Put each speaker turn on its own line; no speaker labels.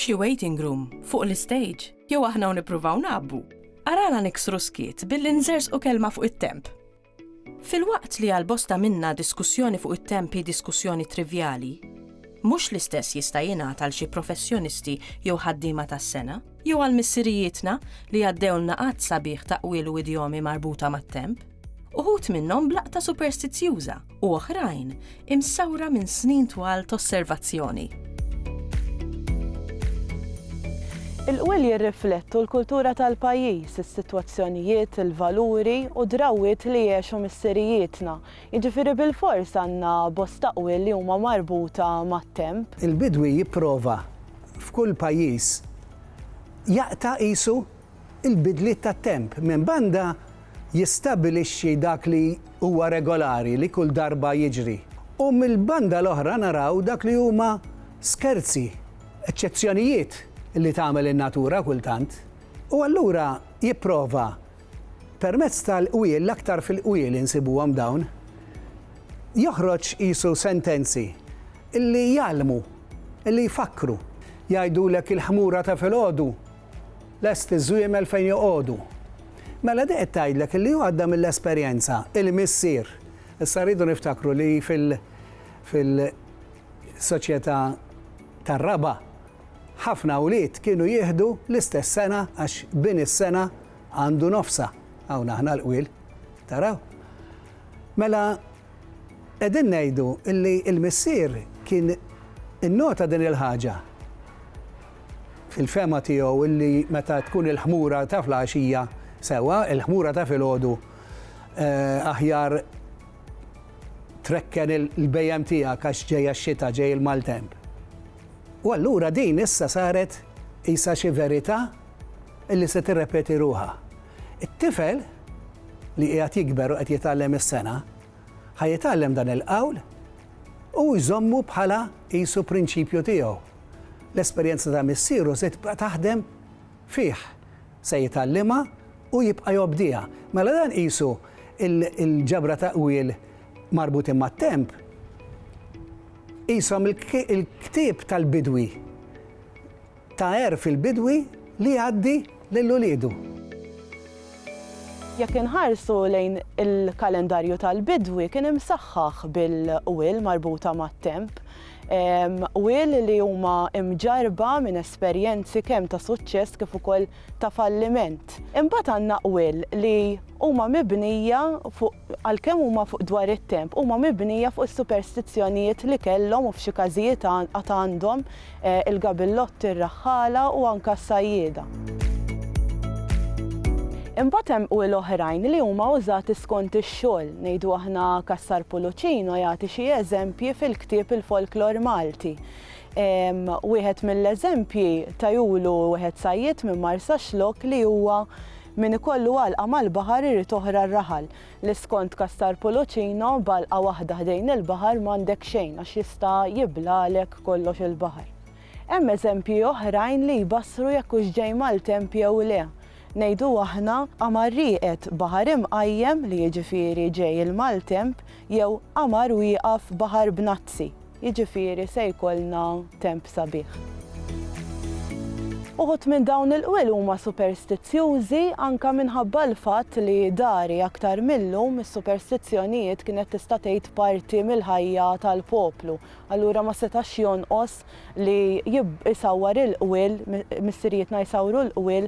F'xi waiting room, fuq l-istejġ, jew aħna u nippruvaw ngħabbu? Arana niksru s-skiet billi nżerżqu kelma fuq it-temp. Filwaqt li għal bosta minna diskussjoni fuq it-temp hi diskussjoni trivjali, mhux l-istess jista' jingħad għal xi professjonisti jew ħaddiema tas-sengħa, jew għal missirijietna li għaddewlna għadd sabiħ ta' qwiel u idjomi marbuta mat-temp, uħud minnhom b'laqta superstizzjuża u oħrajn imsawra minn snin twal t'osservazzjoni. Il-qwiel jirriflettu l-kultura tal-pajjiż, is-sitwazzjonijiet, il-valuri u d-drawwiet li għexu missirijietna, jiġifieri bilfors għandna bosta qwiel li huma marbuta mat-temp. Il-bidwi jipprova f'kull pajjiż jaqta' qisu il-bidliet tat-temp, minn banda, jistabbilixxi dak li huwa regolari li kull darba jiġri, u mill-banda l-oħra naraw dak li huma skerzi, eċċezzjonijiet li tagħmel in-natura kultant. U allura jipprova, permezz tal-qwiel, l-aktar fil-qwiel insibuhom dawn, joħroġ qisu sentenzi li jgħallmu, li jfakkru. Jgħidulek il-ħmura ta' filgħodu Lest iż-żwiemel fejn joqogħdu. Mela di qed tgħidlek illi hu għadda mill-esperjenza, il-missier. Issa rridu niftakru li fil fil soċjetà tar-raba' ħafna wlied kienu jieħdu l-istess sena għax bin is-sena għandu nofsha. Hawn aħna l-qwiel. Taraw? Mela Qegħdin ngħidu li l-missier kien innota din il-ħaġa fil-fehma tiegħu li meta tkun il-ħmura ta' fl-għaxija sewwa, il-ħmura ta' filgħodu aħjar trekken il-bhejjem tiegħek għax ġej x-xita, ġej il-maltemp. U allura din issa saret qisha xi verità li se tirrepeti ruħha. It-tifel li qiegħed jikber u qed jitgħallem is-sengħa ħa jitgħallem dan il-qawl u jżommu bħala qisu prinċipju tiegħu. L-esperjenza ta' missieru se tibqa' taħdem fih, se jitgħallimha u jibqa' jobdiha. Mela dan qisu il-ġabra ta' qwiel marbutin mat-temp qishom il-ktieb tal-bidwi Ta' għerf il-bidwi li jgħaddi lil uliedu. Jekk inħarsu lejn il-kalendarju tal-bidwi kien imsaħħaħ bil-qwiel marbuta mat-temp. Qwiel li huma mġarrba minn esperjenzi kemm ta' suċċess kif ukoll ta' falliment. Imbagħad għandna qwiel li huma mibnija fuq għalkemm huma fuq dwar it-temp, huma mibnija fuq is-superstizzjonijiet li kellhom u f'xi każijiet għad għandhom il-gabillotti, ir-raħħala u anke s-sajjieda. Imbagħad hemm qwiel oħrajn li huma użati skont ix-xogħol. Ngħidu aħna Cassar Pulucino jagħti xi eżempji fil-ktieb Il-Folklor Malti. Wieħed mill-eżempji tajulu wieħed sajjied minn Marsaxlokk li huwa Min ikollu għalqa mal-baħar irid oħra r-raħal, li skont Castar Pulucino b'għalqa waħda ħdejn il-baħar m'għandek xejn għax jista' jiblalek kollox il-baħar. Hemm eżempji oħrajn li jbassru jekk hux ġej maltemp jew le. Ngħidu aħna qamar rieqed baħar imqajjem li jiġifieri ġej il-maltemp jew qamar wieqaf baħar b'nazzi. Jiġifieri se jkollna temp sabiħ. Uħud minn dawn il-qwiel huma superstizzjużi anke minħabba l-fatt li dari aktar mil-lum is-superstizzjonijiet kienet tista' tgħid parti mill-ħajja tal-poplu. Allura ma setax jonqos li jsawwar il-qwiel, missirijietna jsawru l-qwiel